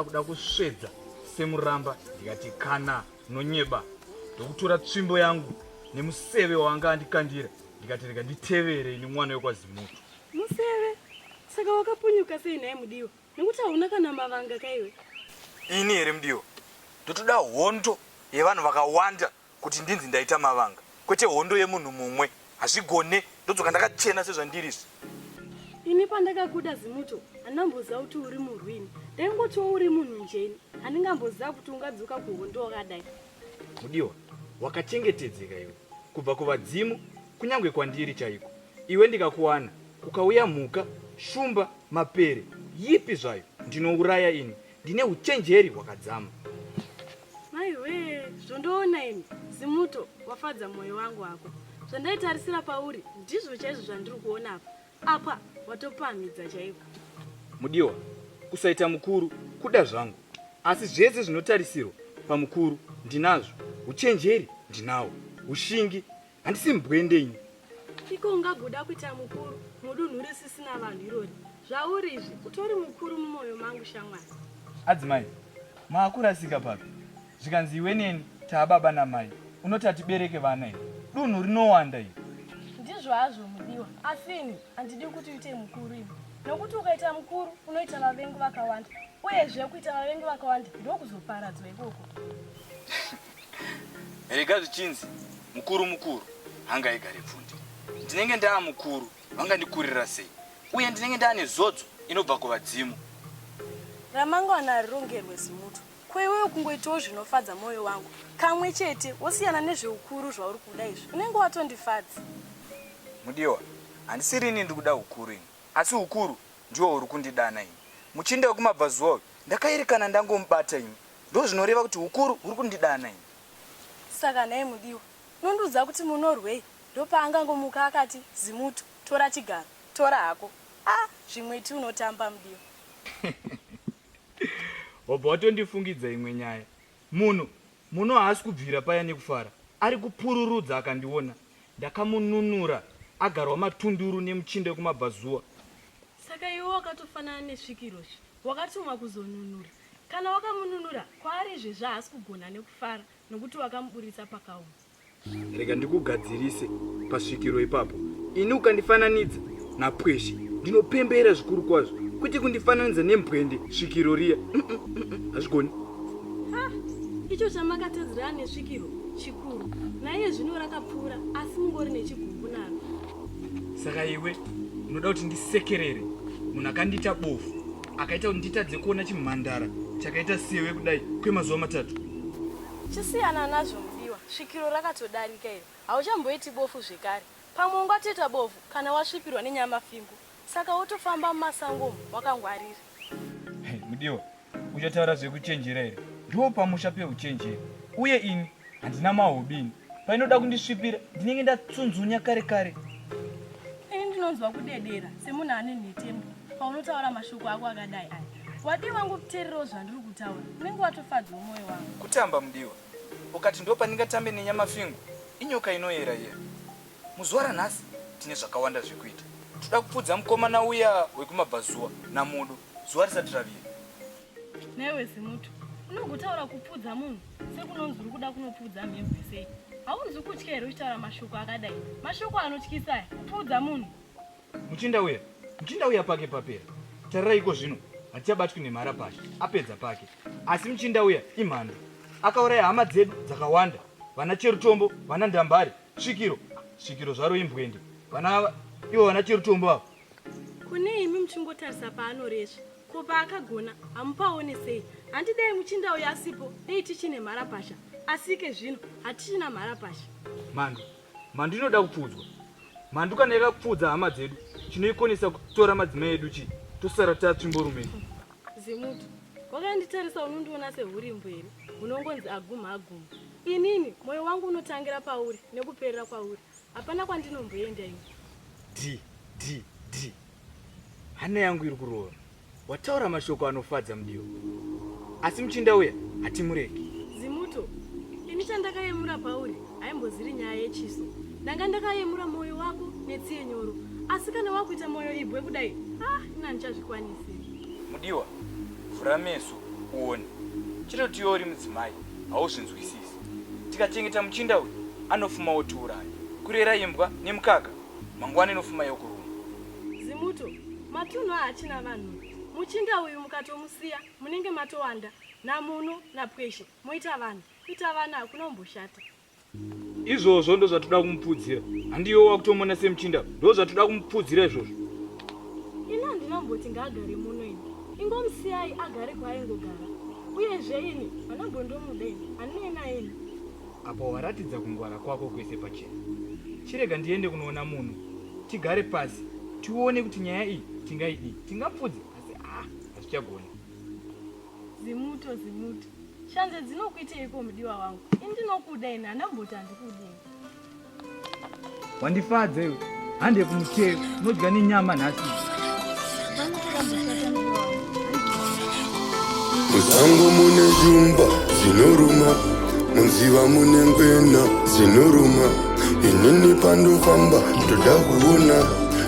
akuda kusvedza semuramba ndikati kana nonyeba ndokutora tsvimbo yangu nemuseve waanga andikandira ndikati rega nditevere ini mwana wekwazimutu Museve, saka wakapunyuka sei nhai Mudiwa? Nekuti hauna kana mavanga kaiwe. Ini here Mudiwa? Ndotoda hondo yevanhu vakawanda kuti ndinzi ndaita mavanga. Kwete hondo yemunhu mumwe. Hazvigone, ndodzoka ndakachena sezvandiri izvi. Ini pandakakuda Zimuto, handamboziva kuti uri murwini. Ndaingotiwo uri munhu njeni. Handingamboziva kuti ungadzoka kuhondo wakadai. Mudiwa, wakachengetedzeka iwe kubva kuvadzimu kunyange kwandiri chaiko. Iwe ndikakuwana kukauya mhuka, shumba, mapere, yipi zvayo ndinouraya ini. Ndine uchenjeri hwakadzama. Maiwee, zvondoona ini Zimuto wafadza moyo wangu hako. Zvandaitarisira pauri ndizvo chaizvo zvandiri kuona apa. Apa watopamhidza chaiko. Mudiwa, kusaita mukuru kuda zvangu asi zvese zvinotarisirwa pamukuru ndinazvo. Uchenjeri ndinawo, ushingi handisi mbwende ini. Iko ungagoda kuita mukuru mudunhu risisina vanhu irori. Zvauri izvi utori mukuru mumoyo mangu shamwari. Adzimai, maakurasika papi? zvikanzi iwe neni taa baba namai unoti hatibereke vana here dunhu rinowanda iri ndizvo hazvo mudiwa asi ini handidi kuti uite mukuru ini nokuti ukaita mukuru unoita vavengi vakawanda uyezve kuita vavengi vakawanda ndokuzoparadzwa ikoko rega zvichinzi mukuru mukuru hanga igare pfundi ndinenge ndaa mukuru vangandikurira sei uye ndinenge ndaane zodzo inobva kuvadzimu ramangwana rirongerwe zimuto Ko iwewe kungoitawo zvinofadza mwoyo wangu kamwe chete wosiyana nezveukuru zvauri kuda izvi unenge watondifadza. Mudiwa, handisiri ini ndiri kuda ukuru ini asi ukuru ndiwo uri kundidana ini. Muchinda wekumabvazuva uyu ndakaerekana ndangomubata ini ndozvinoreva kuti ukuru huri kundidana ini. Saka nhai Mudiwa, unondiudza kuti munorwei? Ndopaakangomuka akati zimutu, tora chigaro, tora hako. Ah zvimwe iti unotamba Mudiwa. Wabva watondifungidza imwe nyaya. Munhu muno haasi kubvira paya nekufara. Ari kupururudza akandiona. Ndakamununura agarwa matunduru nemuchinda wekumabvazuva. Saka iwe wakatofanana nesvikiro zve. Wakatumwa kuzonunura. Kana wakamununura kwaari izvezvi haasi kugona nekufara nokuti wakamuburitsa pakaoma. Rega ndikugadzirise pasvikiro ipapo. Ini ukandifananidza napweshe ndinopembera zvikuru kwazvo kwete kundifananidza nembwende svikiro riya hazvigoni. Icho chamakatedzerana nesvikiro chikuru naiye zvino rakapfuura asi mungori nechigumbu naro. Saka iwe unoda kuti ndisekerere munhu akandiita bofu akaita kuti nditadze kuona chimhandara chakaita sewe kudai kwemazuva matatu? Chisiyana nazvo mudiwa, svikiro rakatodarika iri. Hauchamboiti bofu zvekare. Pamwe ungatoita bofu kana wasvipirwa nenyamafingu saka wotofamba mumasango umu wakangwarira. Hey, mudiwa, uchataura zvekuchenjera here? Ndipo pamusha peuchenjeri. Uye ini handina mahobi ini. Painoda kundisvipira ndinenge ndatsunzunya kare kare. Ini ndinonzwa kudedera semunhu ane nhetembo paunotaura mashoko ako akadai aya. Wadii wangu kuteererawo zvandiri kutaura. Unenge watofadzwa moyo wangu. Kutamba mudiwa. Ukati ndo pandingatambe nenyama fingu inyoka inoyera iya. Muzuva ranhasi tine zvakawanda zvekuita. Toda kupfudza mukomana uya wekumabvazuva namudu zuva risati ravira. Newe zimutu unogotaura kupfudza munhu sekunonzi uri kuda kunopfudza mhembwe sei? Haunzi kutya here uchitaura mashoko akadai? Mashoko anotyisa aya kupfudza munhu. Muchinda uya, muchinda uya pake papera. Tarirai iko zvino hatichabatwi nemhara pasha, apedza pake. Asi muchinda uya imhandu, akauraya hama dzedu dzakawanda, vana Cherutombo, vana Ndambare, Svikiro, Svikiro zvaro imbwende, vana ava ivo vana Cherutombo ava. Kune imi muchingotarisa paanoresva, ko paakagona hamupaone sei? Hanti dai muchinda uya asipo, dai tichine mhara pasha, asi ike zvino hatichina mhara pasha. Mhandu, Mhandu inoda kupfuudzwa. Mhandu kana yakapfuudza hama dzedu chinoikonesa kutora madzimai edu chii tosara tatsvimbo rume. Zimuti wakanditarisa unondiona sehurimbo here hunongonzi aguma aguma. Inini moyo wangu unotangira pauri nekuperera kwauri hapana kwandinomboenda ini. Dhi dhi dhi hana yangu iri kurova. Wataura mashoko anofadza mudiwa, asi muchinda uya hatimuregi. Zimuto, ini chandakayemura pauri haimboziri nyaya yechiso. Ndanga ndakayemura mwoyo wako netsiye nyoro, asi kana wakuita mwoyo ibwe kudai, ah, ini handichazvikwanisi. Mudiwa, vhura meso uone. Chitoti iwe uri mudzimai hauzvinzwisisi. Tikachengeta muchinda uyu anofuma otiuraya. Kurera imbwa nemukaka mangwana inofuma yokuruma. Zimuto, matunhu ahachina vanhu. Muchinda uyu mukatomusiya munenge matowanda namuno napweshe moita vanhu kuita vana hakuna umboshata. Izvozvo ndozvatoda kumupfuudzira. Handiyo wakutomona semuchinda ndozvatoda kumupfuudzira izvozvo. Ini handinomboti ngaagare muno ini. Ingomusiyai agare kwaaingogara. Uyezve ini hanambondomuda ini. Handinei naye ini. Apa waratidza kungwara kwako kwese pachena. Chirega ndiende kunoona munhu. Tigare pasi tione kuti nyaya iyi tingaidii. Tingapfudze asi ah hatichagoni. Zimuto zimuto. Shanze dzinokuiteiko mudiwa wangu? Ini ndinokuda ini handamboti handikudii. wandifadza iwe hande kumuchero unodya nenyama nhasi musango mune zvumba zvinoruma munziva mune ngwena dzinoruma inini pandofamba ndoda kuona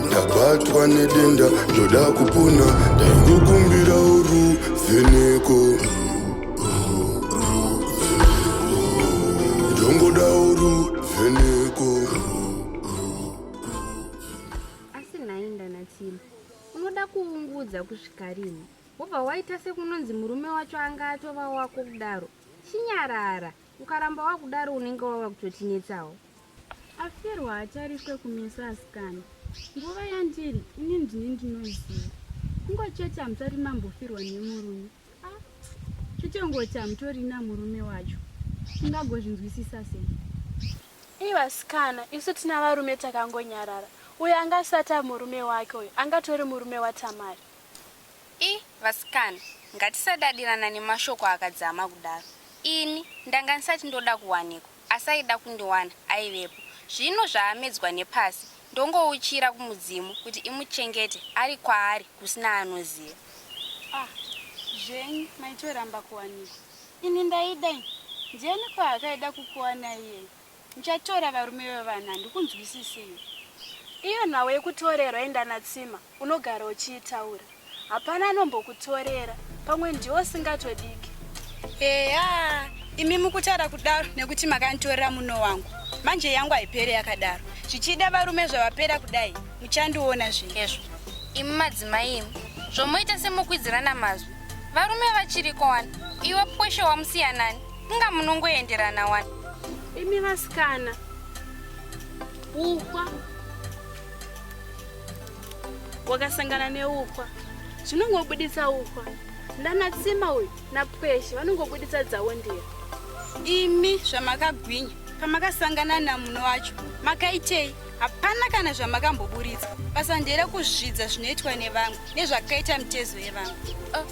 ndabatwa nedenda ndoda kupona ndaingokumbira uru vheneko asi nhai ndanatsima unoda kuungudza kusvika rini wobva waita sekunonzi murume wacho anga atova wako kudaro chinyarara ukaramba wakudaro unenge wava kutotinetsawo aferwa hatariswe kumeso asikana nguva yandiri ini ndini ndinoziva kungochete hamusati mambofirwa nemurume Chichongoti hamutorina murume wacho, ungagozvinzwisisa sei? Ii vasikana, isu tina varume takangonyarara. Uyo anga asati ava murume wake uyo, angatori murume waTamari. Ii vasikana, ngatisadadirana nemashoko akadzama kudaro. Ini ndanga ndisati ndoda kuwanikwa. asi aida kundiwana aivepo zvino zvaamedzwa nepasi ndongouchira kumudzimu kuti imuchengete ari kwaari kusina anoziva. Ah zvenyu maitoramba kuwanikwa ini ndaida ini ndiani kwaakaida kukuwana iyeye muchatora varume vevana handikunzwisisei. Iyo nhau yekutorerwa enda natsima unogara uchiitaura. Hapana anombokutorera, pamwe ndiwo usingatodiki. Eya, imi mukutaura kudaro nekuti makanditorera muno wangu. Manje yangu haipere yakadaro. Zvichida varume zvavapera kudai, muchandiona zvinezvo. Imi madzimai imi, zvomoita semukwidzirana mazwi. Varume vachiriko wani, iwe pweshe wamusiyanani, inga munongoenderana wani. Imi vasikana, uhwa. wakasangana neukwa zvinongobuditsa ukwa ndanatsima uyu napweshe vanongobuditsa dzavo ndira imi zvamakagwinya pamakasangana namuno wacho makaitei hapana kana zvamakamboburitsa basa ndere kuzvidza zvinoitwa nevamwe nezvakaita mitezo yevamwe oh,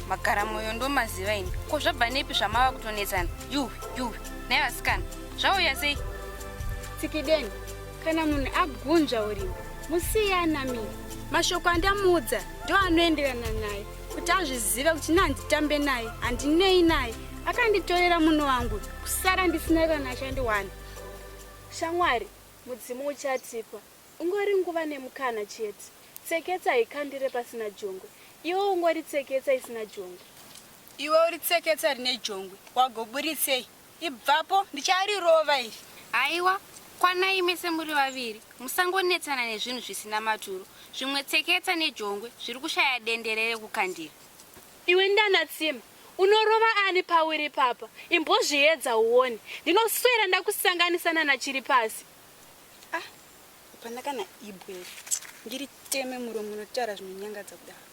magara mwoyo ndomaziva ini ko zvabva nepi zvamava kutonetsana yuwi yuwi nai vasikana zvauya sei tsikideni Kana munhu agunzva urimi musiye anamire. Mashoko andamuudza ndo anoenderana naye kuti azvizive kuti nehanditambe naye handinei naye akanditorera munhu wangu kusara ndisina kana achandiwana. Shamwari mudzimu uchatipa ungori nguva nemukana chete. Tseketsa haikandire pasina jongwe. Iwe ungori tseketsa isina jongwe. Iwe uri tseketsa rine jongwe wagoburitsei? Ibvapo ndicharirova iri. Haiwa, kwanai mese muri vaviri, musangonetsana nezvinhu zvisina maturo. Zvimwe tseketsa nejongwe zviri kushaya dendere rekukandira. Iwe Ndanatsime, unorova ani pauri ipapa? Imbozviedza uone. Ndinoswera ndakusanganisa nana Chiripasi. Ah, hapana kana ibwe iri. Ndiriteme muromo unotaura zvinonyangadza kudaro.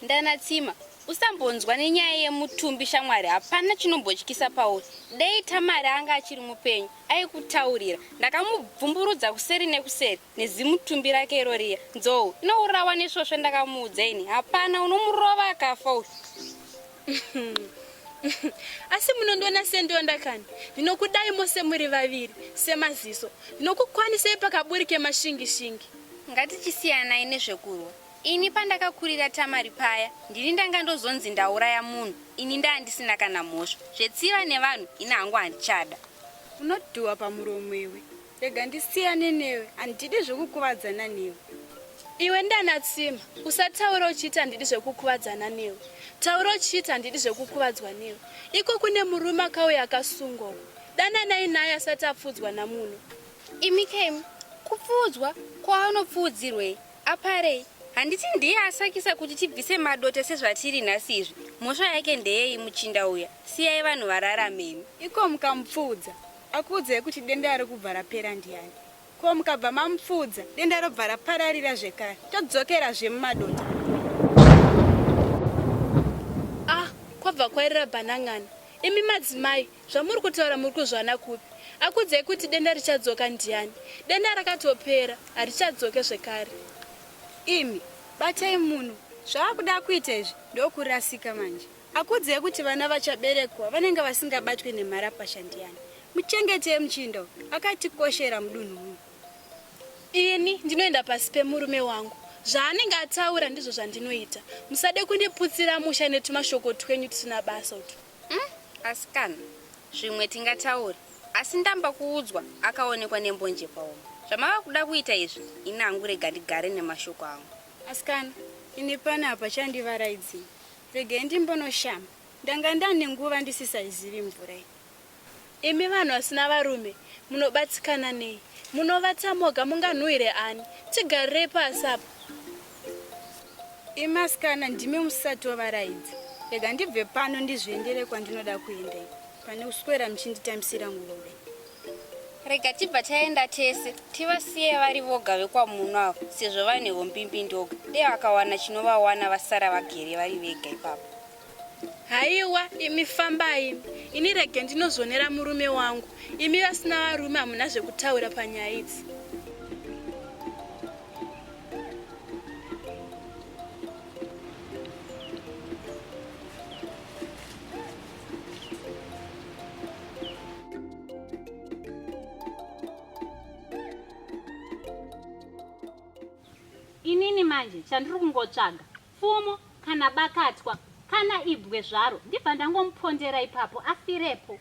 Ndana Tsima, usambonzwa nenyaya yemutumbi shamwari hapana chinombotyisa pauri. Dei Tamari anga achiri mupenyu aikutaurira. Ndakamubvumburudza kuseri nekuseri nezimutumbi rake iro riya. Nzou inourawa nesvosve ndakamuudza ini. Hapana unomurova akafa uyu. asi munondiona sendonda kani ndinokudai mose muri vaviri semaziso ndinokukwanisai pakaburi kemashingishingi ngatichisiyanayi nezvekurwa Ini pandakakurira Tamari paya ndini ndanga ndozonzi ndauraya munhu ini ndaa ndisina kana mhosva. Zvetsiva nevanhu ini hangu handichada. Unodhuwa pamuromo iwe. Rega ndisiyane newe handidi zvekukuvadzana newe. Iwe ndana Tsima usataure uchiita handidi zvekukuvadzana newe. Taura uchiita handidi zvekukuvadzwa newe. Iko kune murume akauya akasungwa uko. Dananai naye asati apfuudzwa namuno. Imi Kemi kupfuudzwa kwaanopfuudzirwei? Apare, handiti ndiye asakisa kuti tibvise madote sezvatiri nhasi izvi? Mhosva yake ndeyei muchinda uya? Siyai vanhu vararame imi. Iko mukamupfuudza, akuudzai kuti denda ari kubva rapera ndiani? Ko mukabva mamupfuudza, denda robva rapararira zvekare, todzokerazve mumadota. Ah, kwabva kwairira banang'ana. Imi madzimai, Zvamuri kutaura muri kuzviwana kupi? Akuudzai kuti denda richadzoka ndiani? Denda rakatopera, harichadzoke zvekare. Imi batai munhu zvaakuda kuita izvi ndokurasika manje. Akuudzai kuti vana vachaberekwa vanenge vasingabatwe nemharapasha ndiani? Muchengetei muchinda uyu, akatikoshera mudunhu muno. Ini ndinoenda pasi pemurume wangu, zvaanenge ataura ndizvo zvandinoita. Musade kundiputsira musha netumashoko twenyu tusina basa utwu. Umm asikana zvimwe tingataure asi ndamba kuudzwa akaonekwa nembonje paoma zvamava kuda kuita izvi ini hangu rega ndigare nemashoko angu. Asikana ini pano apa chandivaraidzei regai ndimbonoshamba ndanga ndane nguva ndisisaizivi mvura iyi. Imi vanhu vasina varume munobatsikana nei? Munovata moga munganhuwire ani? Tigarirei pasi apa. Imi asikana ndimi musatovarayidza. Rega ndibve pano ndizviendere kwandinoda kuenda pane kuswera muchinditambisira ngulube. Rega tibva taenda tese tivasiye vari voga vekwamuno avo sezvo vane humbimbindoga dei vakawana chinovawana vasara vagere vari vega ipapo. Haiwa imi fambai, ini rege ndinozvonera murume wangu. Imi vasina varume hamuna zvekutaura panyaya idzi. Inini manje chandiri kungotsvaga pfumo kana bakatwa kana ibwe zvaro ndibva ndangomupondera ipapo afirepo.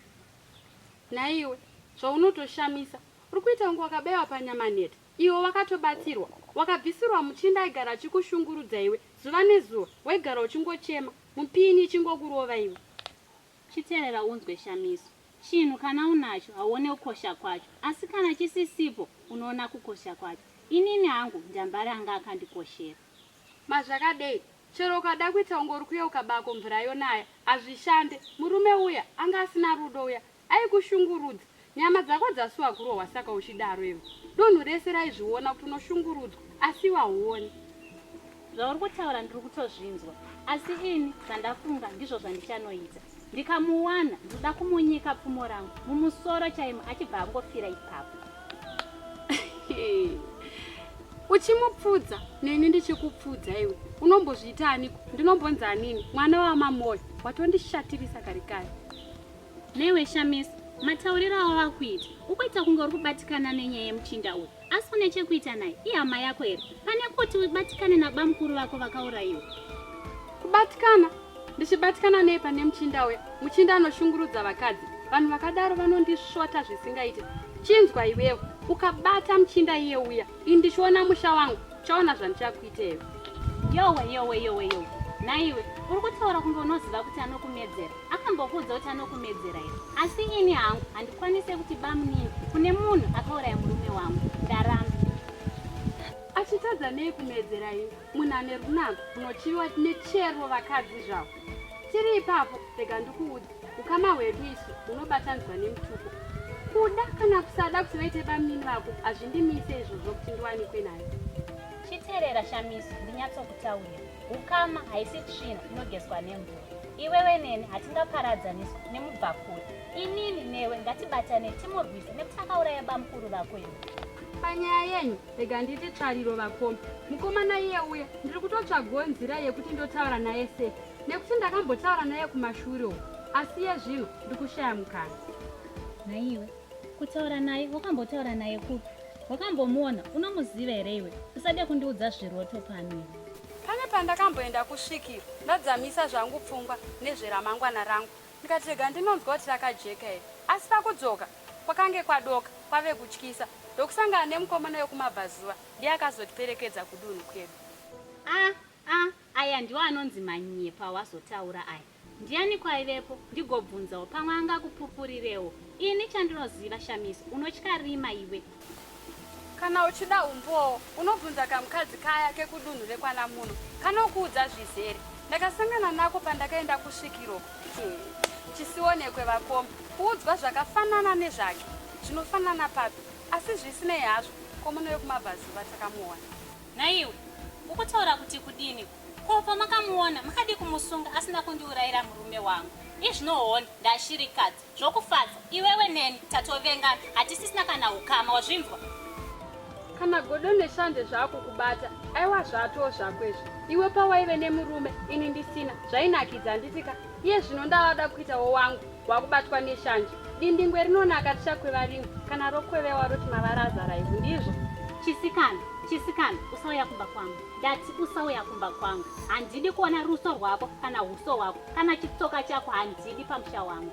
Nhaiwe zvaunotoshamisa uri kuita kunge wakabaiwa panyama nhete iwe wakatobatsirwa wakabvisirwa muchinda aigara achikushungurudza iwe zuva nezuva waigara uchingochema mupini ichingokurova iwe. Chiterera unzwe Shamiso chinhu kana unacho hauone kukosha kwacho asi kana chisisipo unoona kukosha kwacho inini hangu ndambare anga akandikoshera. Ma zvakadei chero ukada kuita kunge uri kuyeuka bako mvura yonaya hazvishande. Murume uya anga asina rudo uya aikushungurudza. Nyama dzako dzasuwa kurohwa saka uchidaro iwe. Dunhu rese raizviona kuti unoshungurudzwa asi iwe hauoni. Zvauri kutaura ndiri kutozvinzwa asi ini zvandafunga ndizvo zvandichanoita. ndikamuwana ndoda kumunyika pfumo rangu mumusoro chaimo achibva angofira ipapo uchimupfudza neni ndichikupfudza iwe unombozviita aniko ndinombonzi anini mwana wamamoyo watondishatirisa kari kari newe shamisa matauriro avo vakuita ukuita kunge uri kubatikana nenyaya yemuchinda uyu Asi une chekuita naye? Ihama yako here? Pane kuti ubatikane nabamukuru vako vakaurayiwa. Kubatikana? Ndichibatikana nei pane muchinda uya? Muchinda anoshungurudza vakadzi. Vanhu vakadaro vanondisvota zvisingaite. Chinzwa iwewe, ukabata muchinda iye uya, ini ndichiona musha wangu, chaona zvandichakuita iwe. Yowe, yowe, yowe, yowe. Nhaiwe, uri kutaura kunge unoziva kuti anokumedzera. akambokuudza kuti anokumedzera here asi ini hangu handikwanise kuti bamunini kune munhu akauraya murume wangu ndaramba achitadza nei kumedzera ini munhu ane runako unochiviwa nechero vakadzi zvavo tiri ipapo rega ndikuudza ukama hwedu isu hunobatanzwa nemutuko kuda kana kusada kuti vaite bamunini vako hazvindimise izvozvo kuti ndiwanikwe nayo chiterera shamiso ndinyatsokutaurira ukama haisi tsvina inogezwa nemvura iwewe neni hatingaparadzaniswa nemubvakure inini newe ngatibatane timurwise nekuti akauraya bamukuru vako iwe panyaya yenyu rega ndiite tsvariro vakoma mukomana iye uya ndiri kutotsvagawo nzira yekuti ndotaura naye sei nekuti ndakambotaura naye kumashure uku asi ye zvino ndikushaya mukana naiwe kutaura naye wakambotaura naye kupi wakambomuona unomuziva here iwe usade kundiudza zviroto pano pane pandakamboenda kusvikiro ndadzamisa zvangu pfungwa nezveramangwana rangu ndikati rega ndinonzwa kuti rakajeka here asi pakudzoka kwakange kwadoka kwave kutyisa ndokusangana nemukomana wekumabvazuva ndiye akazotiperekedza kudunhu kwedu a ah, a ah, Aya ndiwo anonzi manyepo awazotaura aya. Ndiyaniko aivepo ndigobvunzawo pamwe angakupupurirewo. Ini chandinoziva Shamiso unotya rima iwe. Kana uchida umbowo unobvunza kamukadzi kaya kekudunhu rekwana muno kanokuudza zvizere. Ndakasangana nako pandakaenda kusvikiro uko. Chisionekwe vakoma. Kuudzwa zvakafanana nezvake. Zvinofanana papi? Asi zvisinei hazvo ko muno vekumabvazuva takamuona. Nhaiwe, ukutaura kuti kudini? Ko pamakamuona makadii kumusunga asina kundiurayira murume wangu? Izvino honi ndashirikadzi zvokufadza iwewe neni tatovengana hatisisina kana ukama wazvinzwa? Kana godo neshanje zvaakukubata aiwa zvatoo zvako izvi. Iwe pawaive nemurume ini ndisina zvainakidza handitika? Iye zvino ndavada kuitawo wangu. wakubatwa neshanje dindingwe rinonaka tichakweva rimwe kana rokwevewa roti mavara azara ivhu ndizvo chisikana chisikana usauya kumba kwangu ndati usauya kumba kwangu handidi kuona ruso rwako kana uso hwako kana chitsoka chako handidi pamusha wangu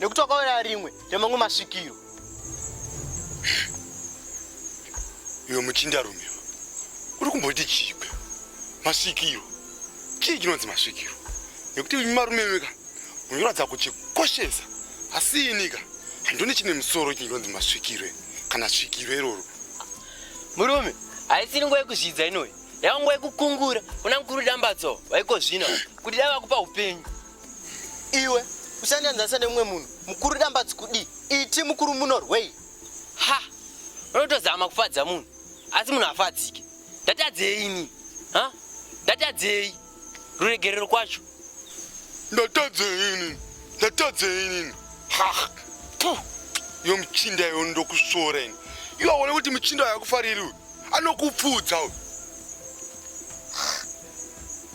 nekuti wakaona rimwe remamwe masvikiro iwe muchindarume uri kumboti chigwe masvikiro chii chinonzi masvikiro nekuti imi marume imika munoratidza kuchikoshesa asi inika handione chine musoro chinonzi masvikiro kana svikiro iroro murume haisiri nguva yekuzvidza inoyi yava nguva yekukungura una mukuru dambatso vaiko zvino kuti dai vakupa upenyu iwe usanyanzanisa nemumwe munhu mukuru dambatsi kudii iti mukuru munorwei ha unotozama kufadza munhu asi munhu afadzike ndatadzei ini ha ndatadzei ruregerero kwacho ndatadzei ini ndatadzei ini ha yo muchinda yo ndokusvora ini iwaone kuti muchinda yakufariri uyu anokupfuudza uyu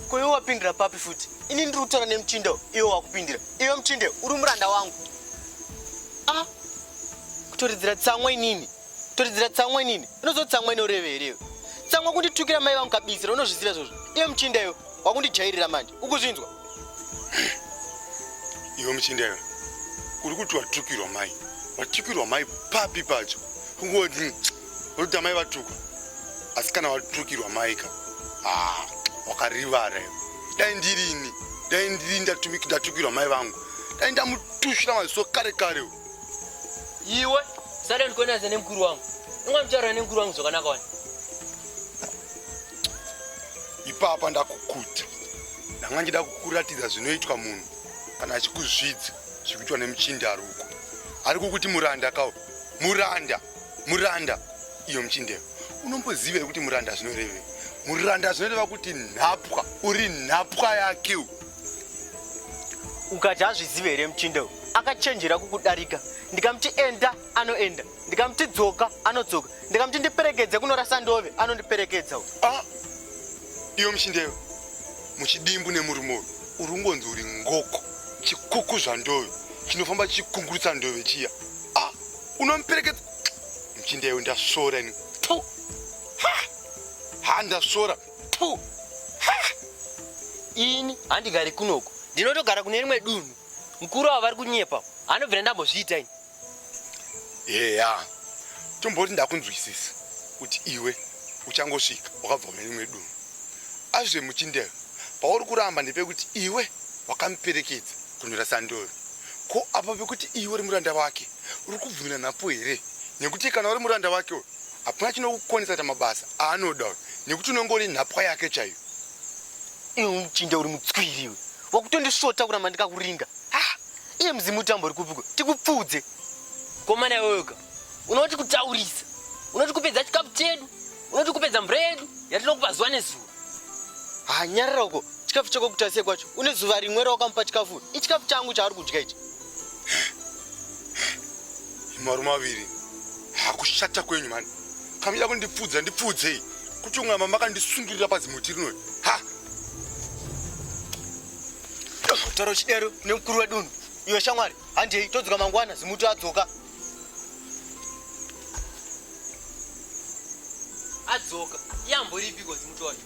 Ko iwe wapindira papi futi? Ini ndiri kutaura nemuchinda iwe wakupindira. Iwe muchinde uri muranda wangu. Ah. Kutoridzira tsamwa inini. Kutoridzira tsamwa inini. Unozo tsamwa inoreve here iwe? Tsamwa kunditukira mai vangu kabisira unozviziva izvozvo. Iwe muchinda iwe wakundijairira manje. Ukuzvinzwa? Iwe muchinda iwe. Uri kuti watukirwa mai. Watukirwa mai papi pacho? Ngoti Unoita mai vatukwa asi kana watukirwa maika ah, wakarivara iwe. Dai ndirini dai ndiri ndatuki- ndatukirwa mai vangu dai ndamutushira maziso kare kare uyu. iwe sada ndikuonanisa nemukuru wangu inga muchitaura nemukuru wangu zvakanaka wani ipapa ndakukuta ndanga ndida kukuratidza zvinoitwa munhu kana achikuzvidza zvikuitwa nemuchinda aruko ari kukuti muranda kawo muranda muranda iyo muchindeyo unombozivei kuti muranda zvinorevei muranda zvinoreva kuti nhapwa uri nhapwa yake ukati azvizive here muchindeyo akachenjera kukudarika ndikamuti enda anoenda ndikamuti dzoka anodzoka ndikamuti ndiperekedze kunorasa ndove anondiperekedza ah, iyo muchindeyo muchidimbu nemurume uyu uri ungonzi uri ngoko chikuku zvandove chinofamba chikungurutsa ndove chiya ah, unomuperekedza mchinda iwe ndasvora ini tu ha ha ndasvora tu ha ini handigari kunoku ndinotogara kune rimwe dunhu mukuru avo vari kunyepa anobvira ndambozviita ini eya tomboti ndakunzwisisa kuti iwe uchangosvika wakabva kune rimwe dunhu azve muchindeyo pauri kuramba ndepekuti iwe wakamuperekedza kunyora sandoro ko apo pekuti iwe uri muranda wake Uri kubvumira nhapo here? Nekuti kana uri muranda wake uyu hapana chinokukonesa kuita mabasa aanoda uyu nekuti unongori nhapwa yake chaiyo. Iwe muchinda uri mutswiri iwe wakutondisvota kuramba ndikakuringa. Ah, iye mudzimu utambo uri kupiko tikupfuudze. Komana iweyoka unoti kutaurisa unoti kupedza chikafu chedu unoti kupedza mvura yedu yatinokupa zuva nezuva hanyarira uko chikafu chako kutasiye kwacho une zuva rimwe rawakamupa chikafu ichikafu changu chaari kudya ichi marume aviri hakushata kwenyu mani kamida kundipfudza ndipfudzei kuti unga mama akandisungirira pazimuti rino ha taura uchidero nemukuru wedunhu iwe shamwari handei todzoka mangwana zimuti adzoka adzoka yamboripiko zimuti wacho